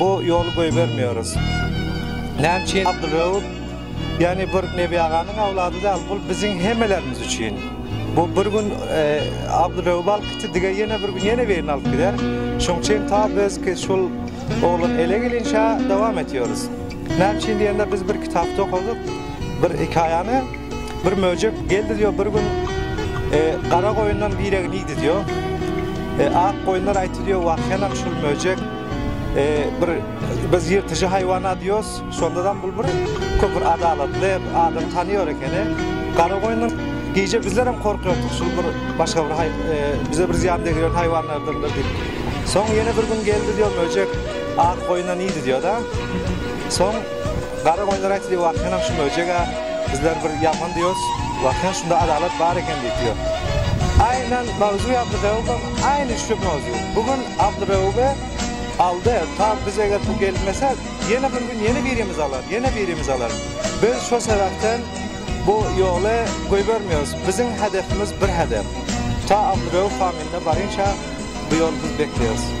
Bu ýoly goýbermeýäris. Näme üçin Abdylreuf ýagny bir Nebi aganyň awlady däl, bul biziň hemmelerimiz üçin. Bu bir gün Abdylreuby alyp gitdi, dige ýene bir gün ýene birini alyp gider. Şoň üçin ta biz ki şul oglan ele gelinçä dowam etýäris. Näme üçin diýende, biz bir kitapda okadyk, bir hekaýany, bir möjek geldi diýýär, bir gün gara goýundan biregini iýdi diýýär. Ak goýunlar aýtdy diýýär, wah-ýanam şul möjek, bir biz ýyrtyjy haýwan-a diýýäs, şonda-da bul bir köp bir adalatly, adamy tanaýar ekeni. Gara goýundan gije bizlerem gorkardyk, şul bir başga bir haý, bize bir zyýan degirýän haýwanlardandyr diýip. Soň ýene bir gün geldi diýýär möjek. Ak goýuna nidi diýoda. Soň gara goýunlar aýtdy wahýanam şu möjega bizler bir ýaman diýos. Wahýan şunda adalat bar eken diýip ýör. Aýnan mawzuy Abdyrewubam aýny şu mawzu. Bu gün Abdyrewuby aldy. Ta biz eger bu gelmese ýene bir gün ýene birimiz alar, ýene birimiz alar. Biz şo sebäpden bu ýoly goýbermeýos. Biziň hedefimiz bir hedef. Ta Abdyrewub famynda barynça bu ýoly biz bekleýos.